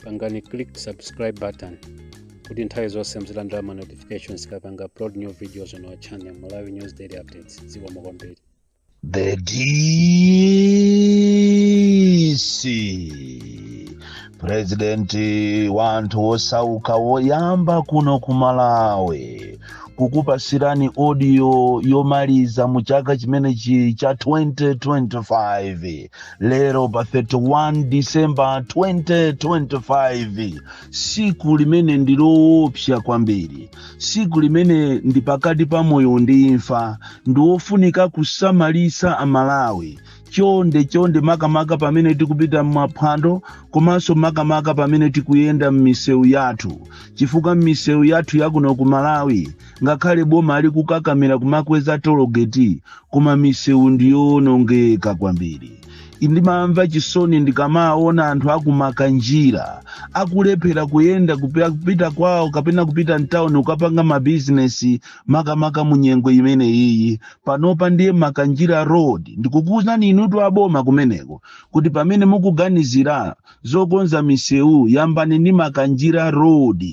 pangani click subscribe button kuti nthawi zonse muzilandira ma notifications tikapanga upload new videos on our channel malawi news daily updates zikomo kwambiri The DC President wa anthu osauka woyamba kuno ku Malawi kukupasirani audio yomaliza mu chaka chimenechi cha 2025 lero pa 31 disemba 2025 tsiku limene ndi loopsa kwambiri tsiku limene ndi pakati pa moyo ndi imfa ndi wofunika kusamalitsa amalawi chonde chonde makamaka pamene tikupita m'maphwando komanso makamaka pamene tikuyenda m'misewu yathu chifukwa m'misewu yathu yakuno ku malawi ngakhale boma ali kukakamira kumakweza tologeti koma misewu ndiyowonongeka kwambiri ndimamva chisoni ndikamaona anthu aku makanjira akulephera kuyenda kupi- kupita kwawo kapena kupita mtawuni kukapanga mabizinesi makamaka mu nyengo imene iyi panopa ndiye makanjira road ndikukuwuzani inutu aboma kumeneko kuti pamene mukuganizira zokonza misewu yambani ndi makanjira road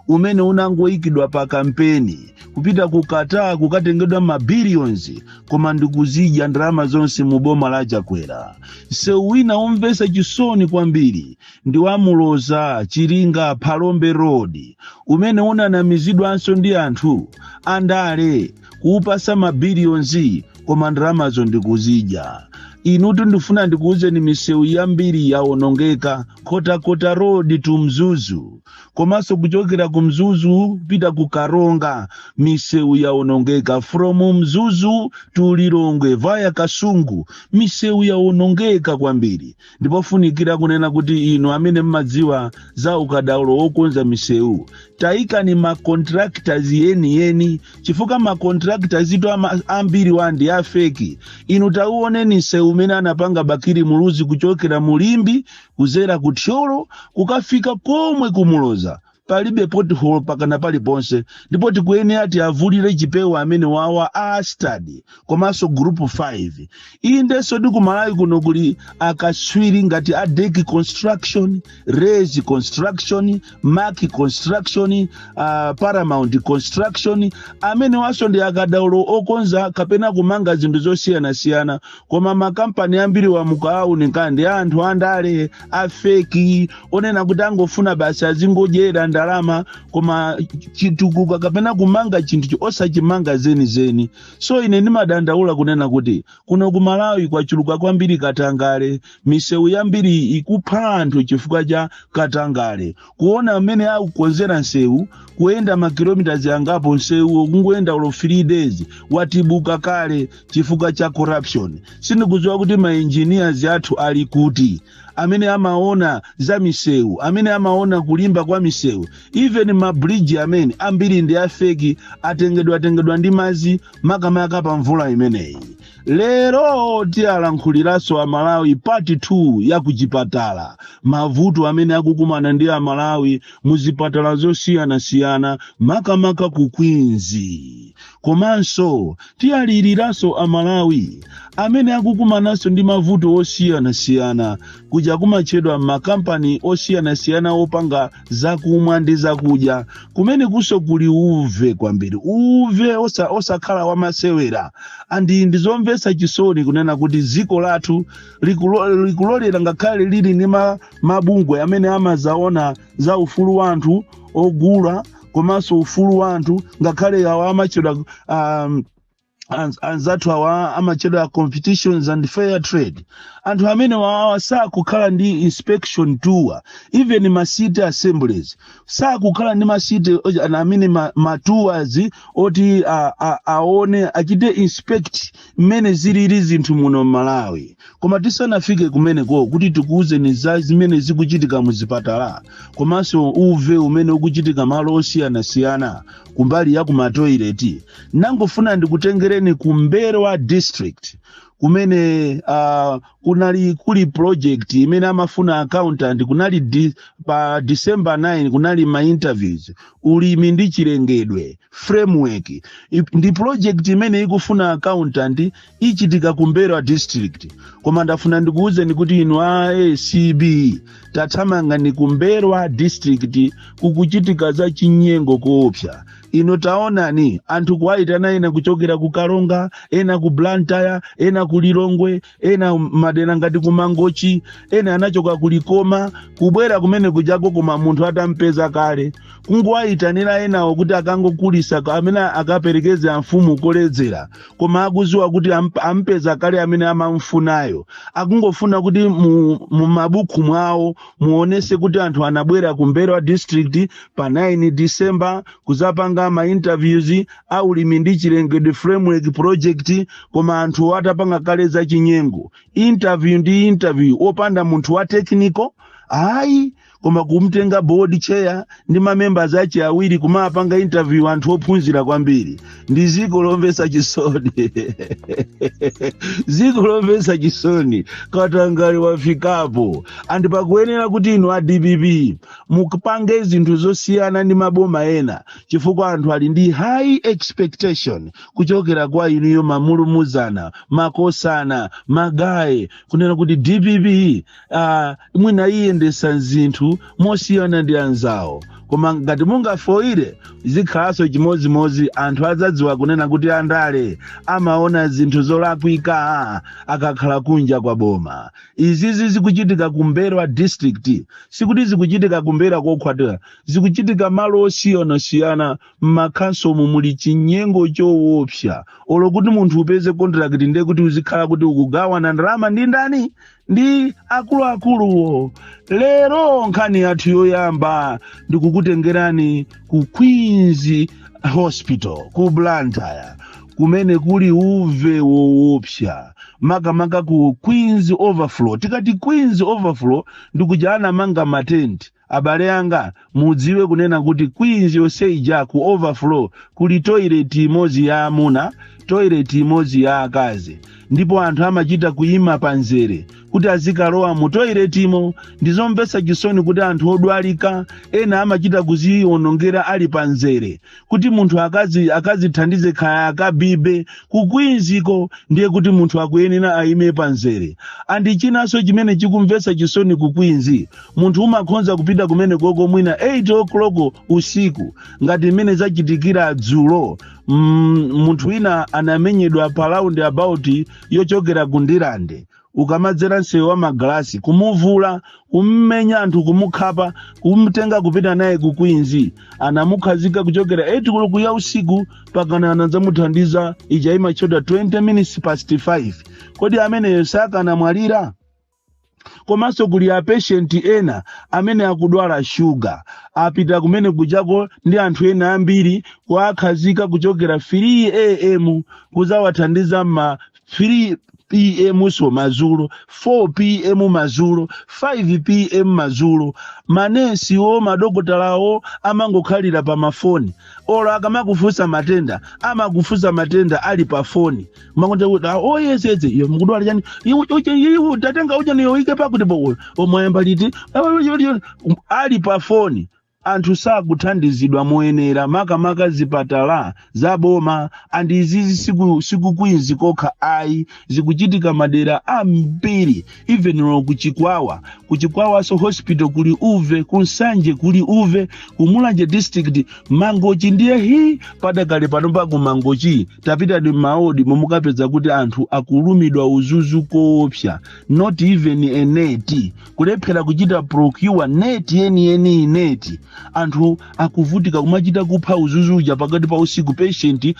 umene unangoyikidwa pa kampeni kupita ku qatar kukatengedwa ma billions koma ndikuzidya ndalama zonse mu boma la chakwera msewu wina womvetsa chisoni kwambiri ndi wa muloza chiringa phalombe road umene unanamizidwanso ndi anthu andale kuupasa ma billions koma ndalamazo ndikuzidya inutu ndifuna ndikuwuzeni misewu yambiri yawonongeka nkhotakota road to mzuzu komanso kuchokera ku mzuzu kupita ku karonga misewu yaonongeka from mzuzu to lilongwe vaya kasungu misewu yaonongeka kwambiri ndipofunikira kunena kuti inu amene mmadziwa za ukadaulo wokonza misewu tayikani macontractors yeniyeni chifukwa macontractors athuwa ama- ambiriwa ndi afeki inu tauoneni msewu umene anapanga bakili muluzi kuchokera mu limbe kuzera ku thyolo kukafika komwe kumuloza palibe pothole pakana paliponse ndipo tikuyenera tiavulire chipewa amenewawa a study komanso group 5 inde ndi kumalawi kuno kuli akatswiri ngati a deki construction raise construction mark construction uh, paramount construction amenewanso ndi akadaulo okonza kapena kumanga zinthu zosiyanasiyana koma makampani ambiriwa mukaawunika ndi anthu andale afeki onena kuti angofuna basi azingodyera ndalama koma chitukuko kapena kumanga chinthu chi- osachimanga zenizeni so ine ndimadandaula kunena kuti kuno ku malawi kwachuluka kwambiri katangale misewu yambiri ikupha anthu chifukwa cha katangale kuona mmene akukonzera nsewu kuyenda makilometers angapo nsewu kungoyenda olo 3 days watibuka kale chifukwa cha corruption sindikudziwa kuti maengineers athu ali kuti amene amaona za misewu amene amaona kulimba kwa misewu even mabridge amene ambiri ndi afeki atengedwa atengedwa ndi madzi makamaka pa mvula imeneyi lero tiyalankhuliraso amalawi part 2 ya kuchipatala mavuto amene akukumana ndi amalawi mu zipatala zosiyanasiyana makamaka ku Queens komanso tiyaliriraso amalawi amene akukumananso ndi mavuto osiyanasiyana kuja kumatchedwa m'makampani osiyanasiyana opanga zakumwa ndi zakudya kumenekuso kuli uve kwambiri uve osa, osakhala wamasewera andi ndizomvetsa chisoni kunena kuti dziko lathu likulo- likulolera ngakhale lili ndi ma- mabungwe amene amazaona za ufulu wa anthu ogula komanso ufulu wa anthu ngakhale awo amatchedwa um, Anz- anzathu awa amachedwa competitions and fair trade anthu amene wawawa sakukhala ndi inspection tour even ma city assemblies sakukhala ndi ma city oja- ana amene ma, ma tours oti a, a, aone achite inspect mmene zilili zinthu muno m'malawi Koma tisanafike kumeneko kuti tikuwuzeni za zimene zikuchitika mu zipatala komanso uve umene ukuchitika malo osiyanasiyana kumbali ya kumatoileti nangofuna ndikutengereni ku M'mbelwa district kumene uh, kunali kuli project imene amafuna accountant kunali di, pa December 9 kunali ma interviews ulimi ndi chilengedwe framework Ip- ndi project imene ikufuna accountant ichitika ku m'mbelwa district koma ndafuna ndikuwuzeni kuti inu a acb tathamangani ku m'mbelwa district kukuchitika za chinyengo koopsa inu taonani anthu kuwayitana ena kuchokera ku karonga ena ku blantyre ena ku lilongwe ena madera ngati ku mangochi ena anachoka ku likoma kubwera kumene kujako koma munthu atampeza kale kungowayitanira enawo kuti akangokulisa ka- amene akaperekeze amfumu koledzera koma akuziwa kuti amp- ampeza kale amene amamfunayo akungofuna kuti mu, mu mabuku mwawo muonese kuti anthu anabwera ku m'mbelwa district pa 9 december kuzapanga ma interviews aulimi ndi chilengedwe framework project koma anthu atapanga kale za chinyengo interview ndi interview opanda munthu wa technical ayi koma kumtenga board chair ndi mamembers ache awiri kumawapanga interview anthu ophunzira kwambiri ndi ziko lomvesa chisoni ziko lomvesa chisoni katangale wafikapo andi pakuyenera kuti inu a dpp mupange zinthu zosiyana ndi maboma ena chifukwa anthu ali ndi high expectation kuchokera kwa inuyo malumuzana makosana magaye kunena kuti dpp ah, mwina iyendesa zinthu mosiyana ndi anzawo koma ngati mungafoire zikhalanso chimodzimodzi anthu adzadziwa kunena kuti andale amaona zinthu zolakwika akakhala kunja kwa boma izizi zikuchitika ku m'mbelwa district sikuti zikuchitika ku m'mbelwa kokha ayi zikuchitika malo osiyanasiyana m'makhonsolomu muli chinyengo chowopsa olo kuti munthu upeze contract ndiye kuti uzikhala kuti ukugawana ndalama ndi ndani ndi akuluakuluwo lero nkhani yathu yoyamba ndikukutengerani ku queens hospital ku blantyre kumene kuli uve woopsa makamaka ku queens overflow tikati queens overflow ndikuja anamanga matenti abale anga mudziwe kunena kuti queens yonse ija ku overflow kuli toilet imodzi ya amuna toilet imodzi ya akazi ndipo anthu amachita kuyima pa nzere kuti azikalowa mu toiletimo ndizomvetsa chisoni kuti anthu odwalika ena amachita kuziwonongera ali pa nzere kuti munthu akazithandize kaya akabibe ku queensko ndiye kuti munthu akuyenera ayime pa nzere andi chinanso chimene chikumvetsa chisoni ku queens munthu umakhonza kupita kumenekoko mwina 8 o'clock usiku ngati mmene zachitikira dzulo munthu wina anamenyedwa pa roundabout yochokera ku ndirande ukamadzera msewu wa magalasi kumuvula kummenya anthu kumukhapa kumtenga kupita naye ku queens anamukhazika kuchokera 8 koloko ya usiku pakana anadzamuthandiza itch imachoka 20 minutes past 5 kodi ameneyo sakanamwalira komanso kuli apeshenti ena amene akudwala shuga apita kumene kujako ndi anthu ena ambiri kuwakhazika kuchokera 3 am kuzawathandiza mma 3 pm so madzulo 4 pm madzulo 5 pm madzulo manesiwo madokotalawo amangokhalira pa mafoni olo akamakufunsa matenda amakufunsa matenda ali pa foni makonda oyezetsa iyo mukudwala chani Iwe tatenga ujeniyo ike pakutipo mwayamba liti ali pa foni Anthu sakuthandizidwa moyenera makamaka zipatala za boma and izizi siku Queens kokha ayi zikuchitika madera ambiri even olo ku Chikwawa ku Chikwawaso hospital kuli uve ku Nsanje kuli uve ku Mulanje district Mangochi ndiye hi padakale pano pa ku Mangochi tapitani mmaodi mumukapeza kuti anthu akulumidwa udzudzu koopsa not even a net kulephera kuchita procure neti yeniyeniyi neti anthu akuvutika kumachita kupha udzudzu uja pakati pa usiku patient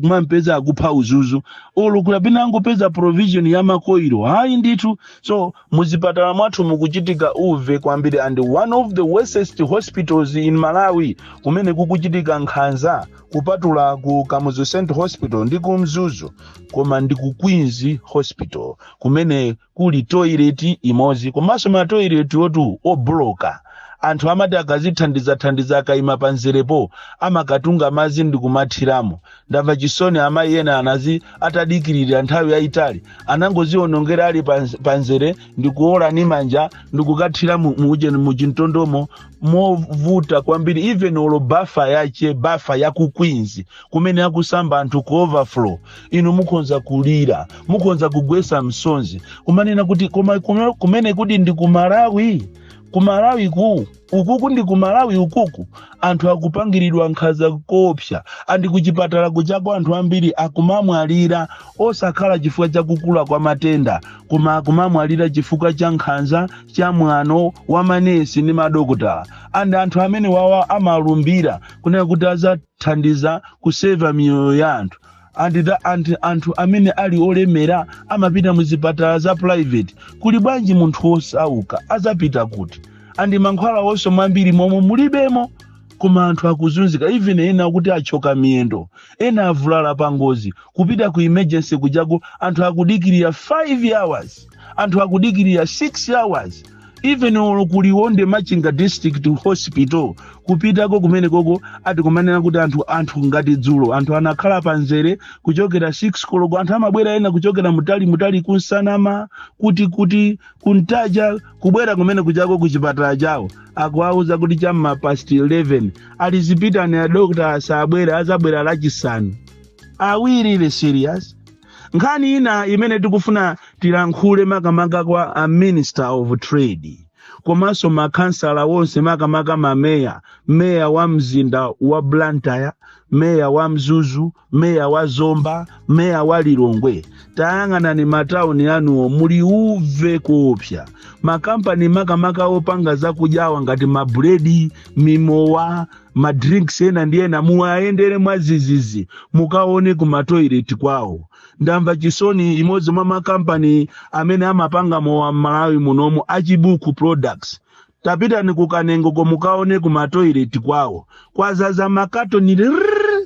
kumampeza akupha udzudzu olo kapena angopeza provision ya makoilo ayi ndithu so muzipatala mwathu mukuchitika uve kwambiri and one of the worsest hospitals in malawi kumene kukuchitika nkhanza kupatula ku kamuzu central hospital ndi ku mzuzu koma ndi ku queens hospital kumene kuli toilet imodzi komanso matoilet oti obloka anthu amati akazithandizathandiza akaima panzerepo amakatunga madzi ndikumathiramo ndamva chisoni amayi ena anadzi atadikirira nthawi yayitali anangozionongera ali panzere ndikuola ni manja ndikukathira mu ujeni muchintondomo movuta kwambiri even olo bafa yache bafa ya ku queens kumene akusamba anthu ku overflow inu mukhonza kulira mukhonza kugwetsa msozi kumanena kuti koma kumene kuno ndi ku malawi ku malawi ku ukuku ndi ku malawi ukuku anthu akupangiridwa nkhanza koopsa andi kuchipatala kujako anthu ambiri akumamwalira osakhala chifukwa cha kukula kwa matenda koma akumamwalira chifukwa cha nkhanza cha mwano wa manesi ndi madokotala andi anthu amenewawa amalumbira kunena kuti adzathandiza kuseva miyoyo ya anthu and the and anthu amene ali olemera amapita mu zipatala za private kuli bwanji munthu wosauka adzapita kuti andi mankhwalawonso mwambiri momwe mulibemo koma anthu akuzunzika even ena oti achoka miyendo ena avulala pa ngozi kupita ku emergency kujako anthu akudikirira 5 hours anthu akudikirira 6 hours even olo ku liwonde machinga district hospital kupitako kumenekoko ati kumanena kuti anthu anthu ngati dzulo anthu anakhala panzere kuchokera 6 koloko anthu amabwera ena kuchokera mutali mutali ku nsanama kuti kuti ku ntaja kubwera kumene kujako kuchipatala chawo akuwauza kuti cha m'ma past 11 ali zipitani adokta sabwera azabwera lachisanu are we really serious nkhani ina imene tikufuna tilankhule makamaka kwa a minister of trade komanso makhansala wonse makamaka mameya meya wa mzinda wa blantyre meya wa mzuzu meya wa zomba meya wa lilongwe tayang'anani matauni anuwo muli uve koopsya makampani makamaka opanga zakudyawa ngati mabuledi mimowa ma drinks ena ndi ena muwayendere mwazizizi mukaone ku matoilet kwawo ndamva chisoni imodzi mwa makampani amene amapanga mowa m'malawi munomo achibuku products tapitani ku kanengo ko mukaone ku matoilet kwawo kwazaza makatoni rrrr.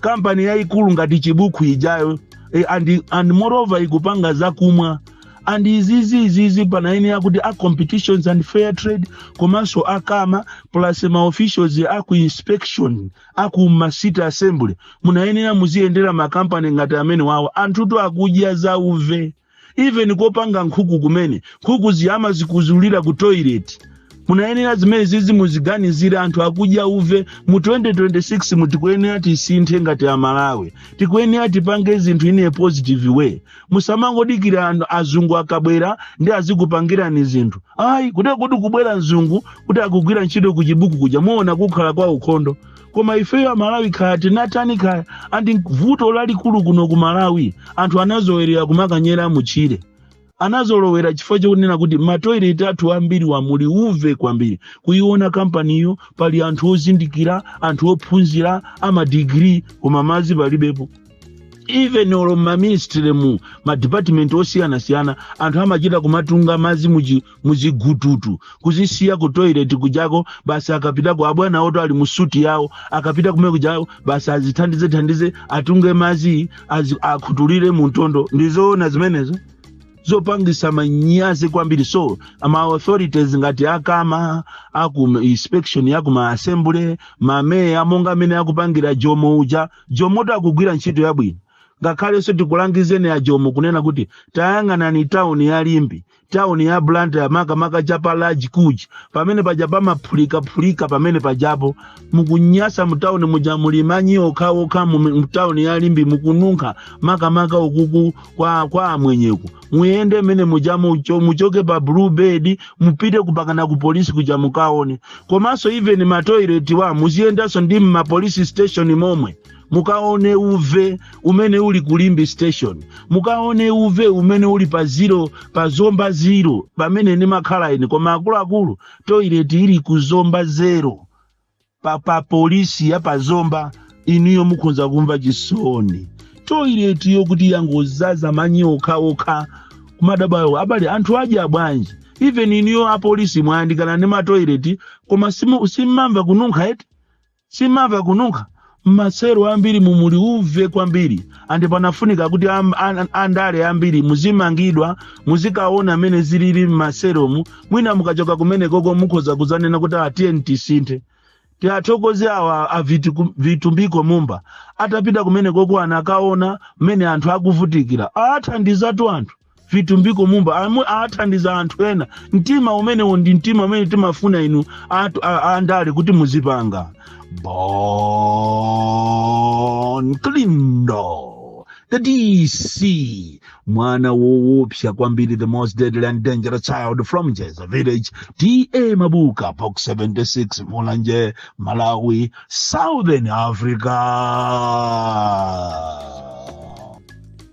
kampani yayikulu ngati chibukhu ijayo e, and, and moreover ikupanga zakumwa and izizi izizi panayenera kuti a competitions and fair trade komanso akama plus ma officials aku inspection aku ma city assembly munayenera muziyendera makampani ngati amene wawo anthutu akudya zauve even kopanga nkhuku kumene nkhuku zimama zikuzulira ku toilet munayenera zimene zizi muziganizire anthu akudya uve mu 2026 mu tikuyenera tisinthe ngati amalawi tikuyenera tipange zinthu in a positive way musamangodikira anthu azungu akabwera ndi azikupangirani zinthu ayi kuti kuti kubwera mzungu kuti akugwira ntchito ku chibuku kuja muona kukhala kwa ukhondo koma ifeyo amalawi kaya tinatani kaya andi vuto lalikulu kuno ku malawi anthu anazolowera kumakanyera mutchire anazolowera chifukwa chokunena kuti matoilet athu ambiriwa muli uve kwambiri kuiona kampaniyo pali anthu ozindikira anthu ophunzira amadigiri koma madzi palibepo even olo maministry mu madepartment osiyanasiyana anthu amachita kumatunga madzi muchi- muzigututu kuzisiya ku toilet kujako basi akapitako abwana oti ali musuti yawo akapita kumene kujako basi azithandize thandize atunge mazi azi- akhutulire muntondo ndizoona zimenezo zopangisa manyazi kwambiri so ma authorities ngati akama aku inspection yaku ma assembly mameya monga amene akupangira jomo uja jomotu akugwira ntchito yabwino ngakhalenso tikulangizeni a jomo kunena kuti tayang'anani tawuni ya limbe town ya blantyre makamaka cha pa large kuj pamene paja pamaphulikaphulika pamene pajapo mukunyasa mutawuni muja muli manyi okhaokha mu- mutawuni ya limbe mukununkha makamaka ukuku kwa, kwa amwenyeku muyende mene muja mucho, muchoke pa blue bed mupite kupakana ku polisi kuja mukaone komanso even matoiletwa muziyendanso ndi mmapolisi station momwe mukaone uve umene uli ku limbe station mukaone uve umene uli pa ziro pa zomba ziro pamene ndimakhala ine koma akuluakulu toilet ili ku zomba zero pa, pa polisi ya pa zomba inuyo mukhonza kumva chisoni toilet yo kuti yangozaza manyi okhaokha kumadabwa abale anthu aja bwanji even inuyo apolisi mwayandikana ndi matoilet koma simu- simmamva kununkha eti Simmamva kununkha mmaselo ambiri mu muli uve kwambiri ndipo panafunika kuti am- an- andale ambiri muzimangidwa muzikaona mmene zilili mmaselomu mwina mukachoka kumenekoko mukhoza kuzanena kuti atiyeni tisinthe tiathokoze awa a Vitu- vitumbiko mumba atapita kumenekoko anakaona mmene anthu akuvutikira athandizatu anthu vitumbiko mumba amwe athandiza anthu ena mtima umenewo ndi mtima umene timafuna inu atu- a- a- andale kuti muzipanga bon kalindo the dc mwana woopsa kwambiri the most deadly and dangerous child from jeza village ta mabuka box 76 mulanje malawi southern africa